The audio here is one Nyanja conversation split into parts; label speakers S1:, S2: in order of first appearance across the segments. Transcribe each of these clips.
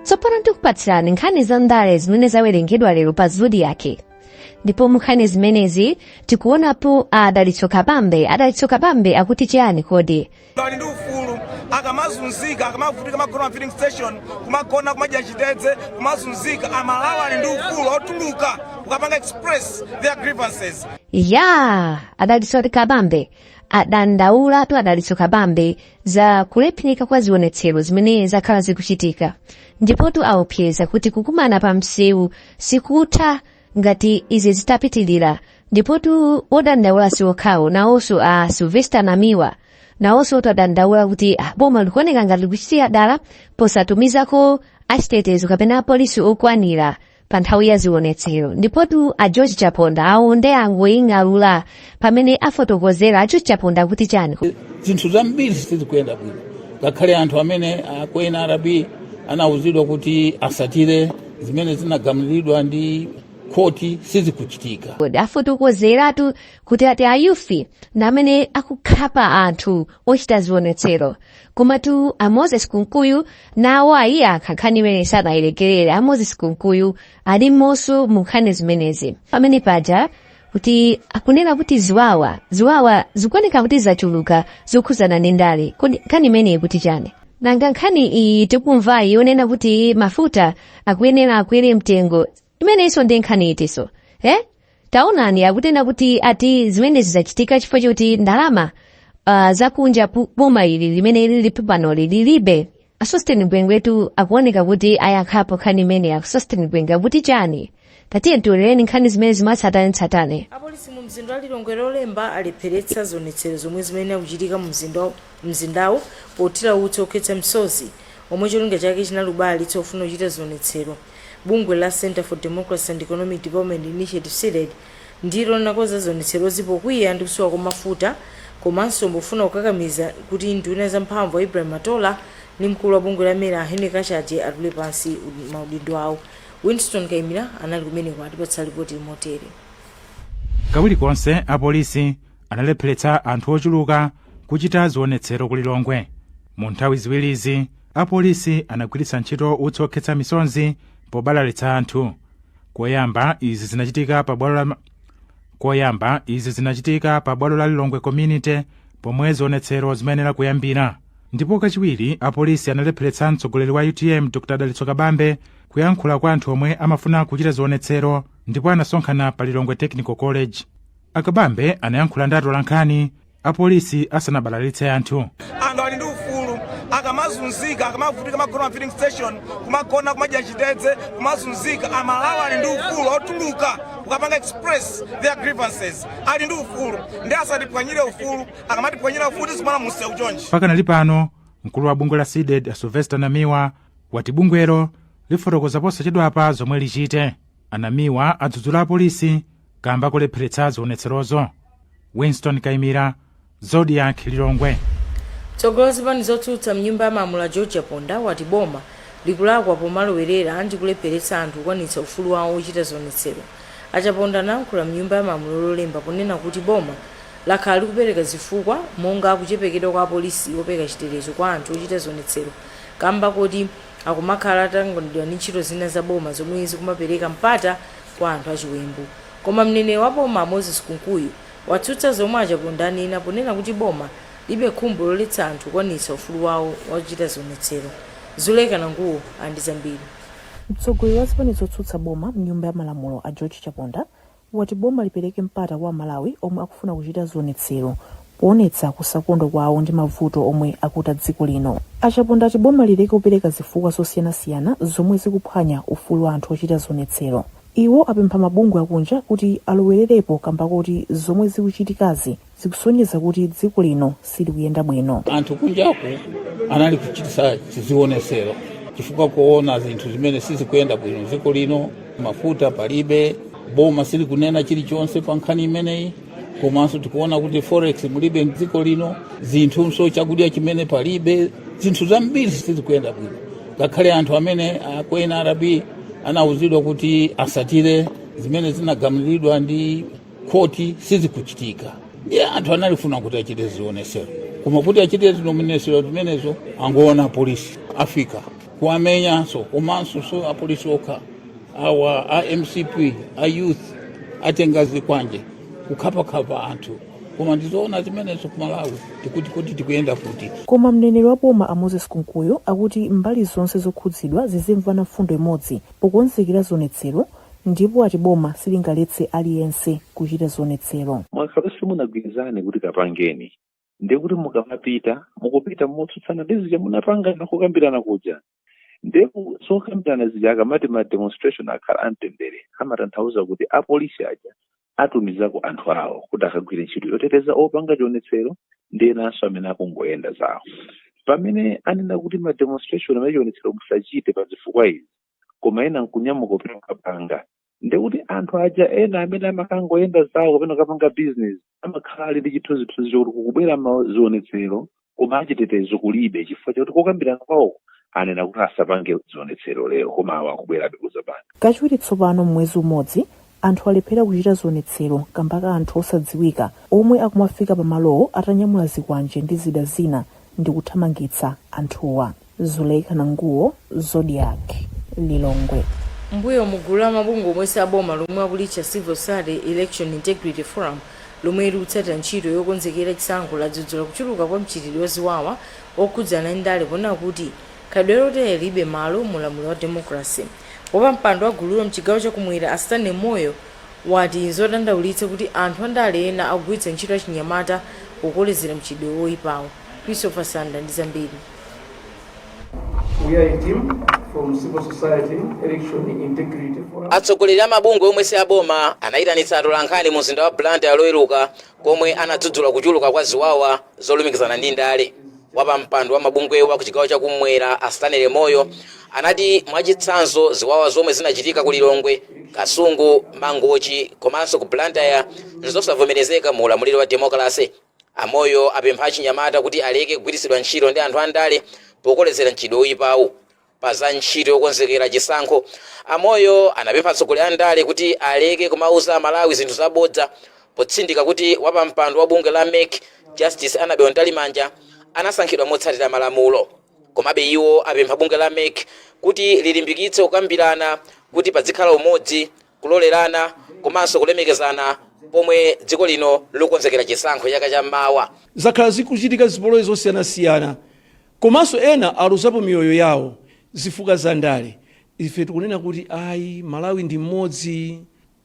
S1: tsopano tikupatsirani nkhani za ndale zimene zawerengedwa lero pa zodiaki ndipo munkhani zimenezi tikuonapo adalitso kabambe adalitso kabambe akuti chiyani kodi ali ndi
S2: ufulu akamazunzika akamavutika amagona ma filling station kumagona kumadya chitedze kumazunzika amalawi ali ndi ufulu otuluka kukapanga express their grievances ya
S1: adalitso ati kabambe adandaulatu adalitso kabambe za kulephinika kwa zionetsero zimene zakhala zikuchitika ndipotu aopseza kuti kukumana pa msewu sikutha ngati izi zitapitilira ndipotu odandaula si okhawo nawonso a sylvester namiwa nawonso atadandaula kuti ah, boma likuoneka ngati likuchitira dala posatumizako achitetezo kapena apolisi okwanira pa nthawi ya zionetsero ndipotu a george chaponda awo nde angoying'alula pamene afotokozera a george chaponda kuti chani zinthu
S3: zambiri sizikuyenda bwino ngakhale anthu amene a ku nrb anauzidwa kuti atsatire zimene zinagamulidwa ndi khoti sizikuchitika kodi afotokozeratu
S1: kuti ati ayufi ndi amene akukhapa anthu ochita zionetsero komatu a moses kunkuyu nawo ayankha nkhani imeneyi sanayilekerere a moses kunkuyu ali momonso mu nkhani zimenezi pamene paja kuti akunena kuti ziwawa ziwawa zikuoneka kuti zachuluka zokhudzana ndi ndale kodi nkhani imeneyi ikuti chani nanga nkhani iyi tikumvayi yonena kuti mafuta akuyenera akwere mtengo imeneyinso ndi nkhani itinso eh? taonani akunena kuti ati zimenezi zachitika chifukwa choti ndalama uh, zakunja pu- boma ili limene lilipo panoli lilibe a sosten gwengwetu akuoneka kuti ayankhapo nkhani imeneyi a sosten gwengwe akuti chani tatiye tiwerengereni nkhani zimenezi mwatsatanetsatane apolisi mu mzinda wa
S4: lilongwe lolemba alepheretsa zionetsero zomwe zimayenera kuchitika mu mzinda- mzindawu pothira utsi okhetsa msozi omwe cholinga chake chinali kubalalitsa ofuna kuchita zionetsero bungwe la center for democracy and economic development initiative cdedi Ndilo linakonza zionetserozi pokwiya ndi kusowa kwa mafuta komanso pofuna kukakamiza kuti nduna za mphamvu a Ibrahim Matola ndi mkulu wa bungwe la mera a Henry Kachaje atule pansi maudindo awo. Winston Kaimira anali kumeneko atipatsa lipoti
S5: motere. Kawiri konse apolisi analepheretsa anthu ochuluka kuchita zionetsero ku Lilongwe. Mu nthawi ziwirizi apolisi anagwiritsa ntchito utsi okhetsa misonzi pobalalitsa anthu. koyamba izi zinachitika pa bwalo la lilongwe community pomwe zionetsero zimayenera kuyambira ndipo kachiwiri apolisi analepheretsa mtsogoleri wa utm dr a dalitso kabambe kuyankhula kwa anthu omwe amafuna kuchita zionetsero ndipo anasonkhana pa lilongwe technical college a kabambe anayankhula ndi atolankhani apolisi asanabalalitse anthu anthu ali ndi
S2: ufulu akamazunzika akamavutika amagona m'ma filling station kumagona kumadya chitedze kumazunzika amalawi ali ndi ufulu otuluka kukapanga express their grievances ali ndi ufulu ndi asatiphwanyire ufulu akamatiphwanyira ufulu tizikumana munsewu chonchi pakanali
S5: pano mkulu wa bungwe la cdedi a sylvester namiwa wati bungwelo lifotokoza posachedwapa zomwe lichite a namiwa adzudzula apolisi kamba kolepheretsa zionetserozo winston kaimira zodiak lilongwe mtsogoleri
S4: wa zipani zotsutsa mnyumba ya malamulo george chaponda wati boma likulakwa pomalowerera ndi kulepheretsa anthu kukwanitsa ufulu wawo wochita zionetsero a chaponda anayankhula mnyumba ya malamulo lolemba ponena kuti boma lakhala likupereka zifukwa monga kuchepekedwa kwa apolisi opereka chitetezo kwa anthu ochita zionetsero kamba koti Akumakhala atatanganidwa ndi ntchito zina za boma zomwe zikumapereka mpata kwa anthu achiwembu. Koma mneneri wa boma a Moses Kunkuyu watsutsa zomwe a Chaponda anena ponena kuti boma lilibe khumbo loletsa anthu kukwanitsa ufulu wawo wochita zionetsero. Zuleka Nanguwo ali ndi zambiri. Mtsogoleri wa
S6: zipani zotsutsa boma mnyumba ya malamulo a George Chaponda wati boma lipereke mpata kwa amalawi omwe akufuna kuchita zionetsero poonetsa kusakondwa kwawo ndi mavuto omwe akuta dziko lino a chaponda ati boma lileke kupereka zifukwa zosiyanasiyana zomwe zikuphwanya ufulu wa anthu ochita zionetsero iwo apempha mabungwe akunja kuti alowererepo kamba koti zomwe zikuchitikazi zikusonyeza kuti dziko lino silikuyenda bwino. anthu
S3: kunjaku anali kuchitisa zionetsero chifukwa kuona zinthu zimene sizikuyenda bwino dziko lino mafuta palibe boma silikunena chilichonse pa nkhani imeneyi komanso tikuona kuti forex mulibe dziko lino zinthunso chakudya chimene palibe zinthu zambiri sizikuyenda bwino ngakhale anthu amene a ku nrb anauzidwa kuti asatire zimene zinagamuliridwa ndi khoti sizikuchitika ndiye anthu analifuna kuti achite zionesero koma kuti achite zionesero zimenezo angoona apolisi afika kuwamenyanso komanso si apolisi okha awa a mcp a youth atenga zikwanje kukhaphakhapha anthu koma ndizoona zimenezo ku malawi tikuti kuti tikuyenda kuti koma mneneri wa boma
S6: a moses kunkuyu akuti mbali zonse zokhudzidwa zizimvana mfundo imodzi pokonzekera zionetsero Ndipo ati boma silingaletse aliyense kuchita zionetsero. Ngakhale
S7: simunagwirizane kuti kapangeni ndiye kuti mukamapita mukupita motsutsana ndi zija munapangana kukambirana kuja ndiye ku- zokambirana zija akamati ma demonstration akhala amtendere amatanthauza kuti apolisi aja atumizako anthu awo kuti akagwire ntchito yoteteza opanga chionetsero ndi enanso amene akungoyenda zawo pamene anena kuti ma demonstration amenewa chionetsero musachite pa zifukwa izi koma ena nkunyamuka kupita kukapanga ndekuti anthu aja ena amene amakangoyenda zawo kapena kukapanga bizinesi amakhala ali ndi chithunzithunzi chokuti kukubwera mazionetsero koma achitetezo kulibe chifukwa chakuti kokambirana kwawo anena kuti asapange zionetsero lero koma awa akubwerabe kuzapanga kachiwiri
S6: tsopano m'mwezi umodzi anthu alephera kuchita zionetsero kamba ka anthu osadziwika omwe akumafika pamalowo atanyamula zikwanje ndi zida zina ndi kuthamangitsa anthuwa Zuleika Nanguwo, Zodiak, Lilongwe. Mmbuyomu
S4: gulu la mabungwe omwe si aboma lomwe akulitcha Civil Society Election Integrity Forum lomwe likutsatira ntchito yokonzekera chisankho ladzudzula kuchuluka kwa mchitidwe wa ziwawa okhudzana ndi ndale ponena kuti khalidwe lotere lilibe malo mu ulamuliro wa democracy. Wapampando wa gululo mchigawo cha kumwera a Stanley Moyo wati nzodandaulitsa kuti anthu andale ena akugwiritsa ntchito achinyamata pokolezera mchitidwe woipawu. Christopher Sande ali ndi zambiri.
S8: We are a team from civil society, election integrity forum. atsogoleri a mabungwe
S9: omwe si aboma anayitanitsa atolankhani mu mzinda wa blantyre loweruka komwe anadzudzula kuchuluka kwa ziwawa zolumikizana ndi ndale wapampando wa mabungwewo wa kuchigawo chakumwera a stanley moyo anati mwachitsanzo ziwawa zomwe zinachitika ku lilongwe kasungu mangochi komanso ku blantyre nzosavomerezeka mu ulamuliro wa demokalase A Moyo apempha achinyamata kuti aleke kugwiritsidwa ntchito ndi anthu andale pokolezera mchitidwe oyipawu. Pa za ntchito yokonzekera chisankho, a Moyo anapempha atsogoleri a ndale kuti aleke kumawuza aMalawi zinthu za bodza potsindika kuti wapampando wa bungwe la mec Justice Annabel Mtalimanja anasankhidwa motsatira malamulo. Komabe iwo apempha bungwe la mec kuti lilimbikitse kukambirana kuti padzikhala umodzi kulolerana komanso kulemekezana pomwe dziko lino likukonzekera chisankho chaka cha mawa. Zakhala zikuchitika
S8: zipolowe zosiyanasiyana komanso ena aluzapo miyoyo yawo zifukwa za ndale. Ife tikunena kuti ayi Malawi ndi mmodzi.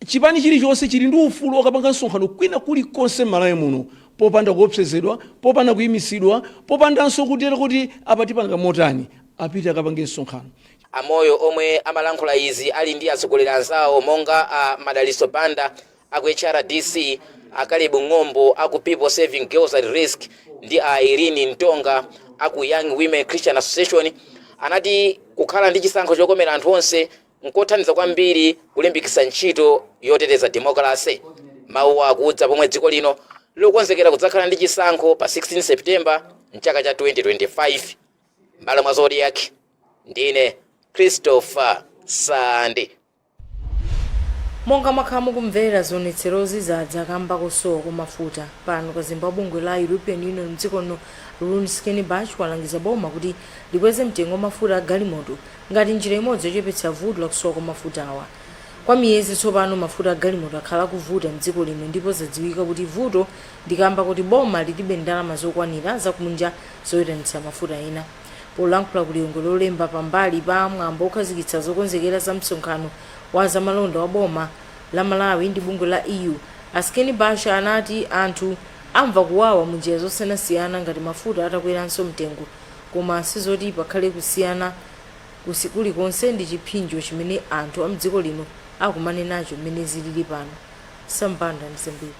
S8: Chipani chilichonse chili ndi ufulu okapanga msonkhano kwina kulikonse m'Malawi muno popanda kuopsezedwa, popanda kuimitsidwa, popandanso kutero kuti apa tipanga motani. Apite akapange msonkhano. A Moyo
S9: omwe amalankhula izi ali ndi atsogoleri anzawo monga a Madalitso Banda a ku HRDC, a Caleb Ng'ombo a ku People Serving Girls at Risk ndi a Irene Ntonga a ku Young Women Christian Association anati kukhala ndi chisankho chokomera anthu onse nkothandiza kwambiri kulimbikitsa ntchito yoteteza demokalase. Mawuwa akudza pomwe dziko lino likukonzekera kudzakhala ndi chisankho pa 16 September m'chaka cha 2025. M'malo mwa Zodiak, ndine Christopher
S4: Sande. Monga mwakhala mukumvera zionetserozi zadza kamba kosowa kwa mafuta pano kazembe wa bungwe la European Union mdziko lino Rune Skinnebach walangiza boma kuti likweze mtengo wa mafuta a galimoto ngati njira imodzi yochepetsa vuto la kusowa kwa mafutawa. Kwa miyezi tsopano mafuta a galimoto akhala akuvuta mdziko lino ndipo zadziwika kuti vuto ndi kamba kuti boma lilibe ndalama zokwanira zakunja zoyitanitsa mafuta ena. Polankhula ku Lilongwe Lolemba pambali pa mwambo wokhazikitsa zokonzekera za msonkhano wa zamalonda wa boma la Malawi ndi bungwe la EU, a Skinnebach anati anthu amva kuwawa munjira zosiyanasiyana ngati mafuta atakweranso mtengo koma sizoti pakhale kusiyana kulikonse ndi chiphinjo chimene anthu a mdziko lino akumane nacho mmene zilili pano. Sam Banda, ndi zambiri.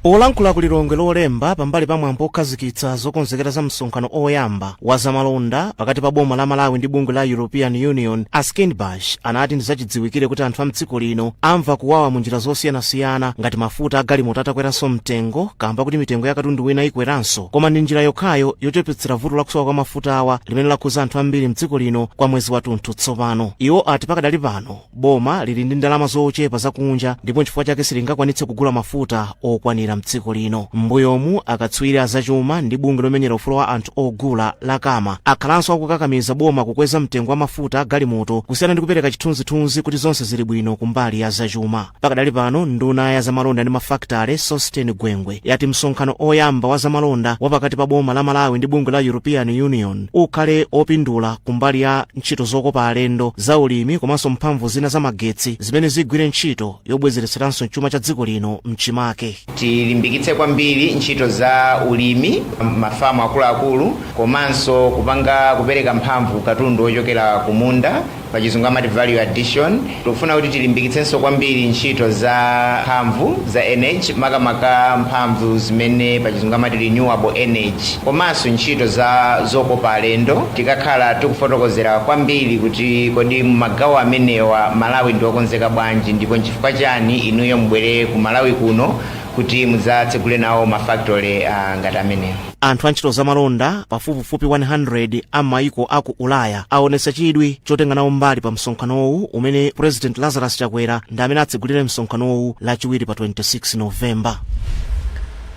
S10: Polankhula ku Lilongwe Lolemba pambali pa mwambo okhazikitsa zokonzekera za msonkhano oyamba wa zamalonda pakati pa boma la Malawi ndi bungwe la European Union, a Skinnebach anati ndizachidziwikire kuti anthu a mdziko lino amva kuwawa mu njira zosiyanasiyana ngati mafuta a galimoto atakweranso mtengo kamba kuti mitengo ya katundu wina ikweranso koma ndi njira yokhayo yochepetsera vuto lakusowa kwa mafutawa limene lakhuza anthu ambiri mdziko lino kwa mwezi wathunthu tsopano. Iwo ati pakadali pano boma lili ndi ndalama zochepa zakunja ndipo nchifukwa chake silingakwanitse kugula mafuta okwanira mdziko lino m'mbuyomu akatswiri azachuma ndi bungwe lomenyera ufulu wa anthu ogula la cama akhalanso akukakamiza boma kukweza mtengo wa mafuta agalimoto kusiyana ndi kupereka chithunzithunzi kuti zonse zili bwino kumbali ya zachuma pakadali pano nduna ya zamalonda ndi mafakitale sosten gwengwe yati msonkhano oyamba wa zamalonda wa pakati pa boma la malawi ndi bungwe la european union ukhale opindula kumbali ya ntchito zokopa alendo za ulimi komanso mphamvu zina za magetsi zimene zigwire ntchito yobwezeretseranso chuma cha dziko lino mchimake tilimbikitse
S11: kwambiri ntchito za ulimi mafamu akuluakulu komanso kupanga kupereka mphamvu katundu ochokera kumunda pachizungu amati value addition tikufuna kuti tilimbikitsenso kwambiri ntchito za mphamvu za energy makamaka mphamvu zimene pachizungu amati renewable energy komanso ntchito za zokopa alendo tikakhala tikufotokozera kwambiri kuti kodi mumagawo amenewa malawi ndi okonzeka bwanji ndipo nchifukwa chani inuyo mubwere ku malawi kuno kuti mudzatsegule nawo mafactory uh, ngati amenewa anthu antchito
S10: zamalonda pafupifupi 100 a maiko a ku ulaya aonetsa chidwi chotenga nawo mbali pa msonkhanowu umene president lazarus chakwera ndi amene atsegulire msonkhanowu lachiwiri pa 26 novemba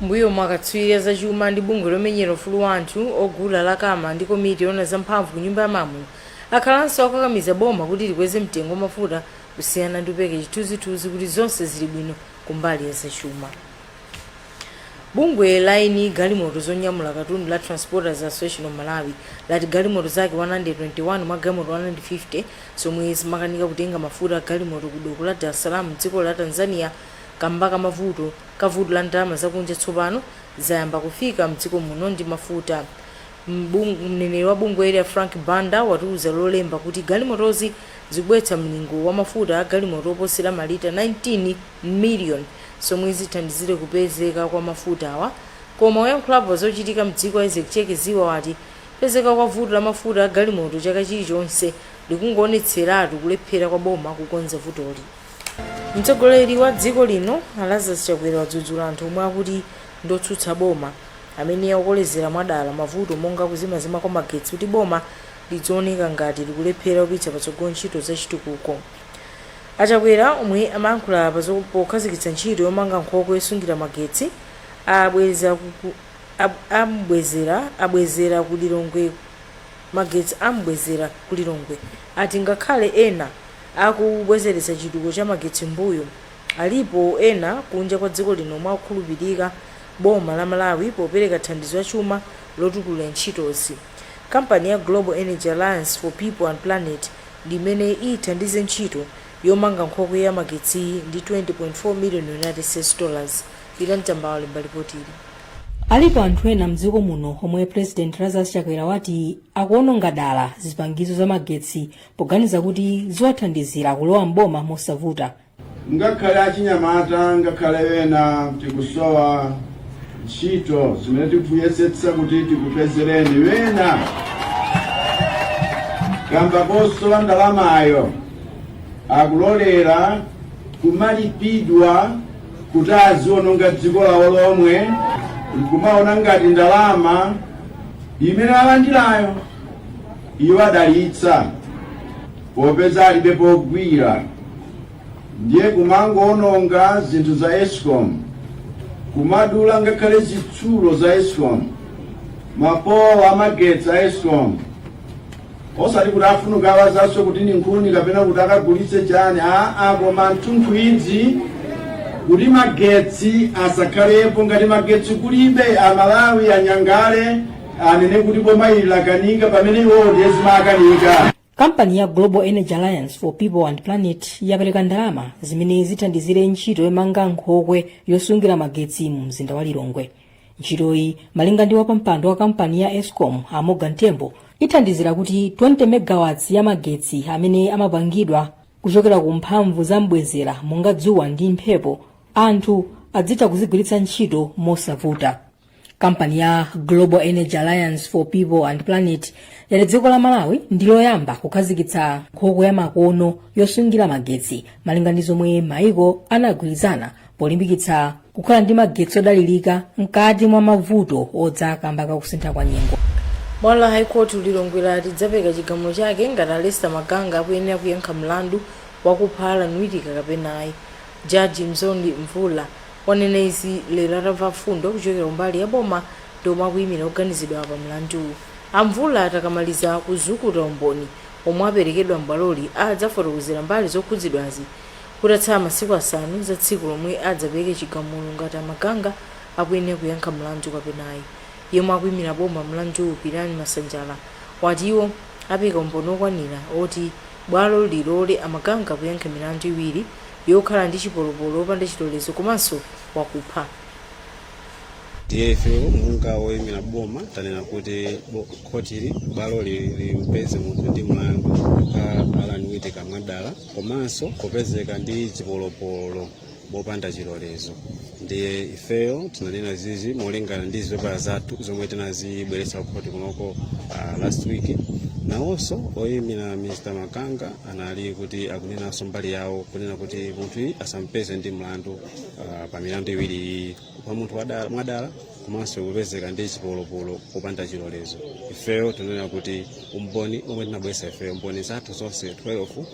S4: mbuyomu akatswiri azachuma ndi bungwe lomenyera ufulu wa anthu ogula la cama ndi komiti yoona zamphamvu ku nyumba ya malamulo akhalanso akukakamiza boma kuti likweze mtengo wa mafuta kusiyana ndi kupereka chithunzithunzi kuti zonse zili bwino kumbali ya zachuma Bungwe la eni galimoto zonyamula katundu la Transporters Association of Malawi lati galimoto zake 121 mwa galimoto 150 zomwe zimakanika kutenga mafuta a galimoto ku doko la Dar es Salaam mdziko la Tanzania kamba ka mavuto ka vuto la ndalama zakunja tsopano zayamba kufika mdziko muno ndi mafuta. Mneneri wa bungweli a Frank Banda watiuza lolemba kuti galimotozi zikubweretsa mlingo wa mafuta a galimoto oposera malita 19 million zomwe zithandizire kupezeka kwa mafutawa koma oyankhulapo pa zochitika mdziko a Isaac Cheke Ziba wati kupezeka kwa vuto la mafuta a galimoto chaka chilichonse likungowonetseratu kulephera kwa boma kukonza vutoli. Mtsogoleri wa dziko lino a Lazarus Chakwera wadzudzula anthu omwe akuti ndi otsutsa boma amene akukolezera mwadala mavuto monga kuzimazima kwa magetsi kuti boma lidziwoneka ngati likulephera kupititsa patsogolo ntchito za chitukuko. A Chakwera omwe amayankhula pa pokhazikitsa ntchito yomanga nkhokwe yosungira magetsi a bwezera ku Lilongwe magetsi a Mbwezera ku Lilongwe ati ngakhale ena akubwezeretsa chitukuko cha magetsi mbuyo, alipo ena kunja kwa dziko lino omwe akukhulupilira boma la Malawi popereka thandizo la chuma lotukulira ntchitozi. Kampani ya Global Energy Alliance for People and Planet, ndi imene ithandize ntchito yomanga nkhokwe ya magetsiyi ndi 20.4 million United States dollars, Pita Mtamba walemba lipotili. Alipo
S12: anthu ena mdziko muno omwe President Lazarus Chakwera wati akuononga dala zipangizo za magetsi poganiza kuti ziwathandizira kulowa m'boma mosavuta. Ngakhale
S13: achinyamata ngakhale ena tikusowa ntchito zimene tikuyesetsa kuti tikupezereni ena kamba kosowa ndalamayo akulolera kumalipidwa kuti aziononga dziko lawo lomwe nkumaona ngati ndalama imene alandirayo iwadalitsa Popeza alibe pogwira ndiye kumangoononga zinthu za escom kumadula ngakhale zitsulo za escom mapolo amagetsi a escom osati kuti afuna kukawazanso kuti ni nkhuni kapena kuti akagulitse chani aa koma the truth is kuti magetsi asakhalepo ngati magetsi kulibe amalawi anyanyale anene kuti boma ili lakanika pamene iwowo ndiye zimawakanika kampani ya
S12: global energy alliance for people and planet yapereka ndalama zimene zithandizire ntchito yomanga nkhokwe yosungira magetsi mu mzinda wa lilongwe ntchitoyi malinga ndi wapampando wa kampani ya escom a morgan tembo ithandizira kuti 20 megawatts ya magetsi amene amapangidwa kuchokera ku mphamvu za mbwezera monga dzuwa ndi mphepo anthu adzitha kuzigwiritsa ntchito mosavuta kampani ya global energy alliance for people and planet yati dziko la malawi ndi loyamba kukhazikitsa nkhokwe ya makono yosungira magetsi malinga ndi zomwe maiko anagwirizana polimbikitsa kukhala ndi magetsi odalirika mkati mwa mavuto odza kamba ka kusintha kwa nyengo bwalo la
S4: high court lilongwe lati lidzapereka chigamulo chake ngati a lester maganga akuyenera kuyankha mlandu wakupha allan wittika kapena ayi jaji mzondi mvula Wanena izi lero atamva mfundo kuchokera kumbali ya boma ndi omwe akuyimira oganizidwawa pa mlanduwu. A Mvula ati akamaliza kuzukuta umboni omwe aperekedwa m'bwaloli adzafotokozera mbali zokhudzidwazi kutatsala masiku asanu za tsiku lomwe adzapereke chigamulo ngati a Maganga akuyenera kuyankha mlandu kapena ayi. Yemwe akuyimira boma m'mlanduwu Pirirani Masanjala wati iwo apereka umboni okwanira oti bwalo lilole a Maganga kuyankha milandu iwiri yokhala ndi chipolopolo wopanda chilolezo komanso
S14: wakupha. Ndiye ife monga woimira boma tanena kuti bo- khotili bwaloli limpeze munthu ndi mlandu a Allan Wittika mwadala komanso kupezeka ndi chipolopolo mopanda chilolezo. Ndiye ifeyo tinanena zizi molingana ndi zipepala zathu zomwe tinazibweretsa kukhoti kunoko ah, last week. Nawonso oimira Mr. Maganga anali kuti akunenanso mbali yawo kunena kuti munthuyi asampeze ndi mlandu ah, pa milandu iwiri iyi kupha munthu wadala- mwadala komanso kupezeka ndi chipolopolo popanda chilolezo ifeyo tinanena kuti umboni omwe tinabweretsa ifeyo mboni zathu zonse 12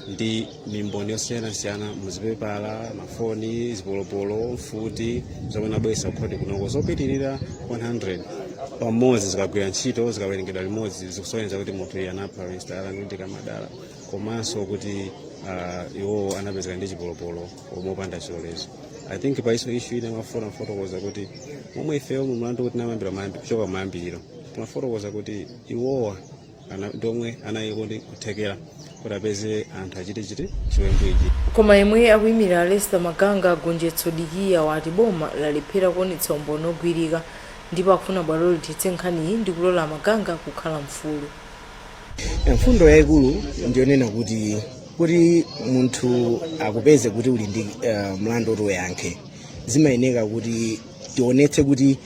S14: ndi mimboni yosiyanasiyana muzipepala mafoni zipolopolo mfuti zomwe tinabweretsa kukhoti kunoko zopitirira 100 pamodzi zikagwira ntchito zikawerengedwa limodzi zikusonyeza kuti munthuyi anapha mr allan wittika mwa dala komanso kuti uh, iwowo anapezeka ndi chipolopolo mopanda chilolezo i think pa hiyo issue ine mafuna mfotokoza kuti mmomwe ifeyo mu mlandu kuti tinayambira mayambi- kuchoka mayambiriro timafotokoza kuti iwowa ana- ndi omwe anali ndi kuthekera kuti apeze anthu achite chiti chiwembu ichi koma yemwe
S4: akuimirira lester maganga gonjetso dikiya wati boma lalephera kuonetsa umboni ogwirika ndipo akufuna bwalo lithetse nkhaniyi ndi kulola maganga kukhala mfulu
S15: mfundo yayikulu ndiyonena kuti kuti munthu akupeze kuti uli ndi uh, mlandu woti uyankhe zimayeneka kuti tionetse kuti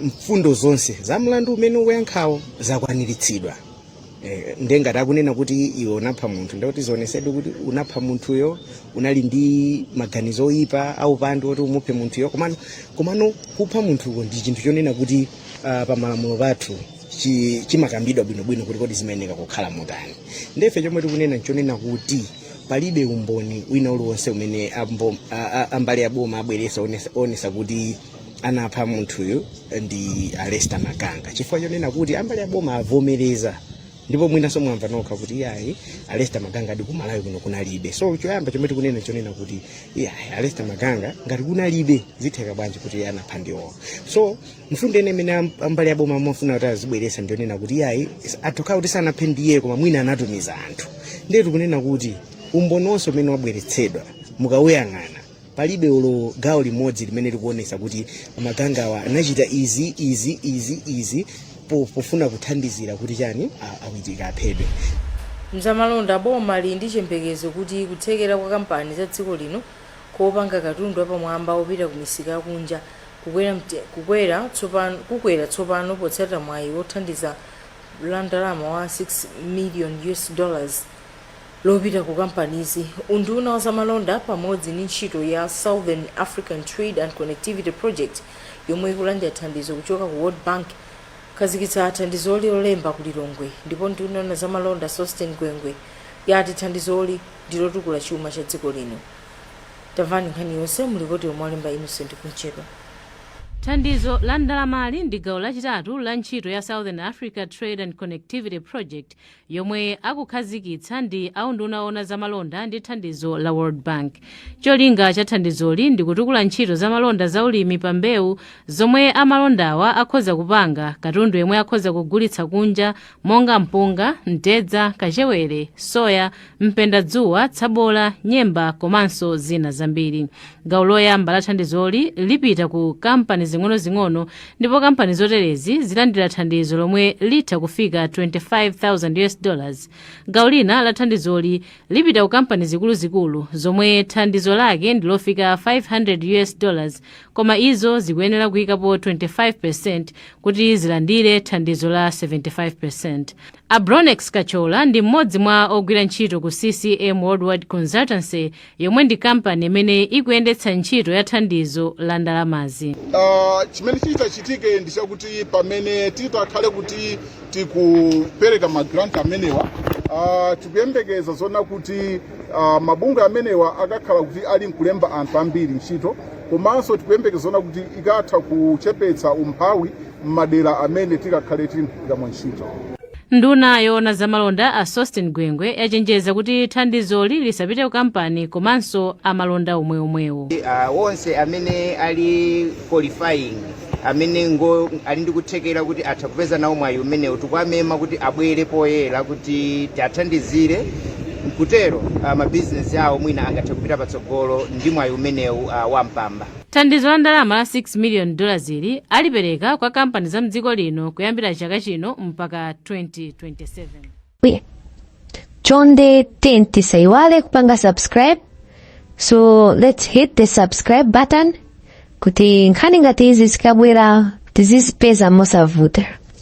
S15: mfundo zonse za mlandu umene ukuyankhawo zakwaniritsidwa Eh, ndiye ngati akunena kuti iwe unapha munthu ndikuti zionetsedwe kuti unapha munthuyo unali ndi maganizo oyipa aupandu oti umuphe munthuyo komano kupha munthuko ndi chinthu chonena kuti uh, pamalamulo pathu chi- chimakambidwa bwinobwino kuti kodi zimayeneka kukhala motani nde ife chomwe tikunena nchonena kuti palibe umboni wina uliwonse umene ambo- a- a- ambali aboma abweretsa onesa- onesa kuti anapha munthuyo ndi a lester maganga chifukwa chonena kuti ambali aboma avomereza ndipo mwinanso mwamva nokha kuti iyayi a lester maganga anadi kumalawi kuno kunalibe so choyamba chomwe tikunena chonena kuti iyayi a lester maganga ngati kunalibe zitheka bwanji kuti anapha ndiwowo so mfundo yeniyeni imene am- ambali yaboma amafuna kuti azibweretsa ndionena kuti iyayi atha kukhala kuti sanaphe ndiye koma mwina anatumiza anthu ndiye tikunena kuti umboni wonse umene wabweretsedwa mukawuyang'ana palibe olo gawo limodzi limene likuonesa kuti magangawa anachita izi izi izi izi po- pofuna kuthandizira kuti chani a- a witika aphedwe mzamalonda
S4: boma lili ndi chiyembekezo kuti kuthekera kwa kampani za dziko lino popanga katundu wapamwamba wopita ku misika yakunja Kukwera mte, kukwera tsopano, kukwera tsopano potsata mwayi wa thandizo la ndalama la 6 million US dollars lopita ku kampanizi, unduna wa zamalonda pamodzi ndi ntchito ya Southern African Trade and Connectivity Project yomwe ikulandira thandizo kuchoka ku World Bank akhazikitsa thandizoli Lolemba ku Lilongwe ndipo nduna yoona zamalonda Sosten Gwengwe yati thandizoli ndi lotukula chuma cha dziko lino. Tamvani nkhani yonse mu lipoti lomwe walemba Innocent Kumchedwa.
S16: Thandizo la ndalamali ndi gawo lachitatu la ntchito ya Southern Africa Trade and Connectivity Project yomwe akhazikitsa ndi a unduna woona za malonda ndi thandizo la World Bank. Cholinga cha thandizoli ndi kutukula ntchito za malonda za ulimi pa mbewu zomwe amalondawa akhoza kupanga katundu yemwe akhoza kugulitsa kunja monga mpunga, mtedza, kachewere, soya, mpendadzuwa, tsabola, nyemba komanso zina zambiri. Gawo loyamba la thandizoli lipita ku kampani zing'onozing'ono ndipo kampani zoterezi zilandira thandizo lomwe litha kufika 25,000 US dollars. Gawo lina la thandizoli lipita ku kampani zikuluzikulu zomwe thandizo lake ndilofika 500 US dollars koma izo zikuyenera kuikapo 25% kuti zilandire thandizo la 75%. A Bronex Kachola ndi mmodzi mwa ogwira ntchito ku CCM Worldwide Consultancy yomwe ndi kampani imene ikuyendetsa ntchito ya thandizo la ndalamazi. Ah,
S17: chimene chitachitike ndi chakuti pamene titakhale kuti tikupereka magranti amenewa ah, tikuyembekeza kuona kuti Uh, mabizinesi amenewa akakhala kuti ali nkulemba anthu ambiri ntchito komanso tikuyembekeza kuona kuti ikatha kuchepetsa umphawi m'madera amene tikakhale tili nkugwiramo ntchito
S16: nduna yoona zamalonda a Sosten Gwengwe yachenjeza kuti thandizoli lisapite ku kampani komanso amalonda omweomwewo uh, onse
S11: amene ali qualifying amene ngo ali ndi kuthekera kuti atha kupeza nawo mwayi umenewu tikuwamema kuti abwere poyera kuti tiathandizire nkutero uh, mabizinesi awo mwina angathe kupita patsogolo ndi mwayi umenewu uh, wa mpamba thandizo la ndalama
S16: la 6 million dollars ili alipereka kwa kampani za mdziko lino kuyambira chaka chino mpaka 2027
S1: chonde ten tisaiwale kupanga subscribe so let's hit the subscribe button kuti nkhani ngati izi zikabwera tizizipeza mosavuta